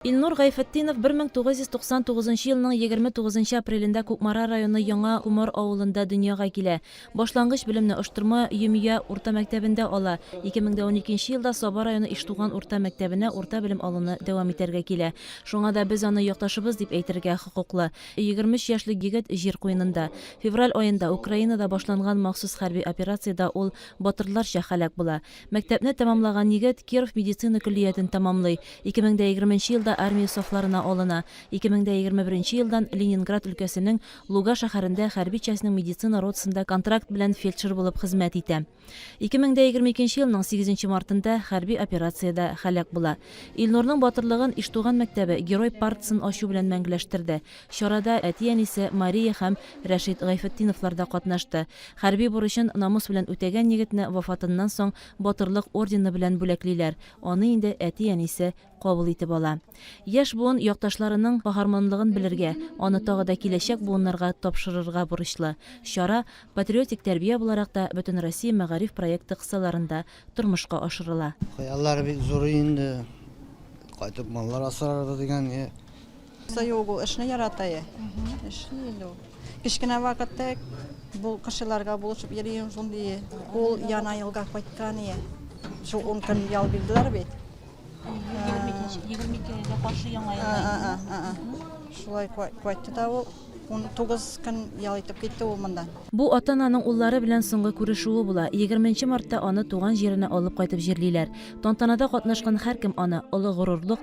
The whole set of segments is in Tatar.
Илнур Гайфетдинов 1999 нчы елның егерме тугызынчы апрелендә Кукмара районы Яңа Комар авылында дөньяга килә. Башлангыч белемне Оштырма, Йөмия, урта мәктәбендә ала. 2012 нче елда Саба районы Иштуган урта мәктәбенә урта белем алуны дәвам итәргә килә. Шуңа да без аны якташыбыз дип әйтергә хокуклы. Егерме өч яшьлек егет җир куенында. Февраль аенда Украинада башланган махсус хәрби операциядә ул батырларча һәлак була. Мәктәпне тәмамлаган егет Киров медицина көллиятен тәмамлый, 2020 нче елда армия сафларына алына, 2021 нче елдан Ленинград өлкәсенең Луга шәһәрендә хәрби частьның медицина ротасында контракт белән фельдшер булып хезмәт итә. 2022 нче елның 8 нче мартында хәрби операциядә һәлак була. Илнурның батырлыгын Иштуган мәктәбе Герой партасын ачу белән мәңгеләштерде. Чарада әти-әнисе Мария һәм Рәшит Гайфетдиновлар да катнашты. Хәрби бурычын намус белән үтәгән егетне вафатыннан соң Батырлык ордены белән бүләклиләр, аны инде әти-әнисе кабул итеп ала. Яшь буын якташларының каһарманлыгын белергә, аны тагы да киләчәк буыннарга тапшырырга бурычлы. Чара Патриотик тәрбия буларак та Бөтенроссия мәгариф проекты кысаларында тормышка ашырыла. Хыяллар бик зур инде, кайтып маллар асрарбыз дигән. Кыса юк ул, эшне ярата я. Эшли инде ул. Кечкенә вакытта бу кешеләргә булышып йөрим шундый. Ул яна елга кайткан я. Шул 10 көн ял бирделәр бит. 22-гә каршы яңа елга. Шулай кайтты да ул. 19 көн ял итеп китте ул монда. Бу ата-ананың уллары белән соңгы күрешүе була. Егерме нче мартта аны туган җиренә алып кайтып җирлиләр. Тантанада катнашкан һәркем аны, олы горурлык,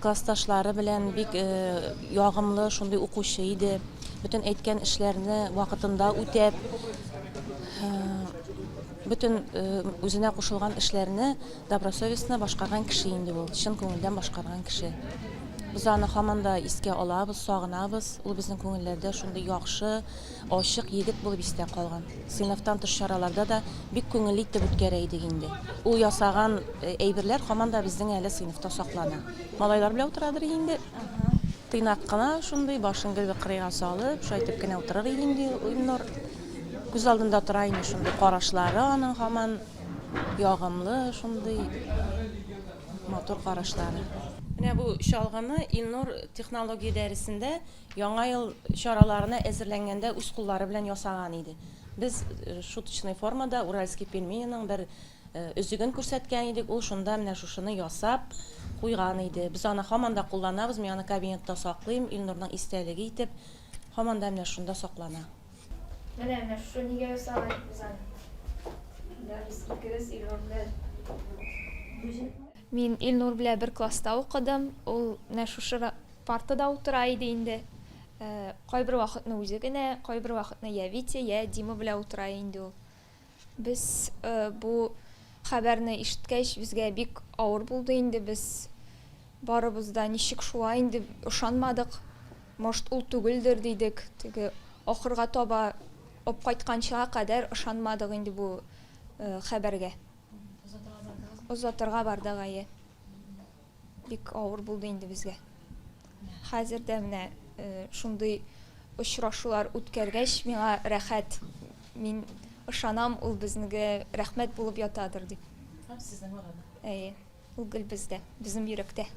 Классташлары белән бик ягымлы, шундый укучы иде. Бөтен әйткән эшләрне вакытында үтәп, бөтен үзенә кушылган эшләрне добросовестно башкарган кеше инде ул, чын күңелдән башкарган кеше. Без аны һаман да искә алабыз, сагынабыз. Ул безнең күңелләрдә шундый яхшы, Ачык егет булып истә калган. Сыйныфтан тыш чараларда да бик күңелле итеп үткәрә идек инде. Ул ясаган әйберләр һаман да безнең әле сыйныфта саклана. Малайлар белән утырадыр инде. Тыйнак кына шундый, башын гел бер кырыйга салып, шайтып кенә утырыр иде инде Илнур. Күз алдында тора инде шундый карашлары аның һаман ягымлы шундый матур карашлары. Менә бу чалгыны Илнур технология дәресендә Яңа ел чараларына әзерләнгәндә үз куллары белән ясаган иде. Без шуточный формада Уральские пельмениның бер өзеген күрсәткән идек, ул шунда менә шушыны ясап куйган иде. Без аны һаман да кулланабыз, мин аны кабинетта саклыйм, Илнурның истәлеге итеп, һаман да менә шунда саклана. Менә, менә шушы нигә ясаган идек без аны. Менә без икебез Илнур белән. Мин Илнур белән бер класста укыдым, ул менә шушы Партада утыра иде инде. Кайбер вакытны үзе генә, кайбер вакытны йә Витя, йә Дима белә утыра инде ул. Без бу хәбәрне ишеткәч, безгә бик авыр булды инде, без барыбыз да ничек шулай инде, ышанмадык. Может, ул түгелдер, дидек. Теге ахырга таба, апкайтканчыга кадәр ышанмадык инде бу хәбәргә. Озатырга бардыгыз? Озатырга бардык, әйе. Бик авыр булды инде безгә. Хәзер дә менә э, шундый очрашулар үткәргәч, миңа рәхәт. Мин ышанам, ул безнеге рәхмәт булып ятадыр дип. Һәм сезнең арада. Әйе, ул гел бездә, безнең йөрәктә.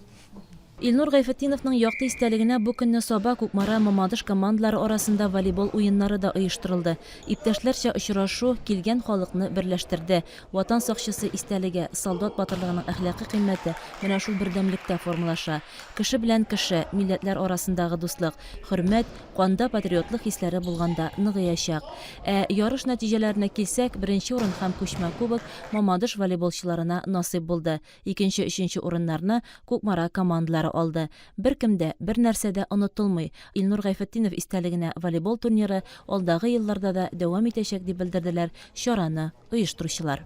Илнур Гайфетдиновның якты истәлегенә бу көнне Саба, Кукмара, Мамадыш командалары арасында волейбол уеннары да оештырылды. Иптәшләрчә очрашу килгән халыкны берләштерде. Ватан сакчысы истәлеге, солдат батырлыгының әхлакый кыйммәте менә шул бердәмлектә формалаша. Кеше белән кеше, милләтләр арасындагы дуслык, хөрмәт, канда патриотлык хисләре булганда ныгыячак. Ә ярыш нәтиҗәләренә килсәк, беренче урын һәм күчмә кубок Мамадыш волейболчыларына насыйп булды, икенче, өченче урыннарны Кукмара командалары алды. Беркем дә, бернәрсә дә онытылмый. Илнур Гайфетдинов истәлегенә волейбол турниры алдагы елларда да дәвам итәчәк, дип белдерделәр чараны оештыручылар.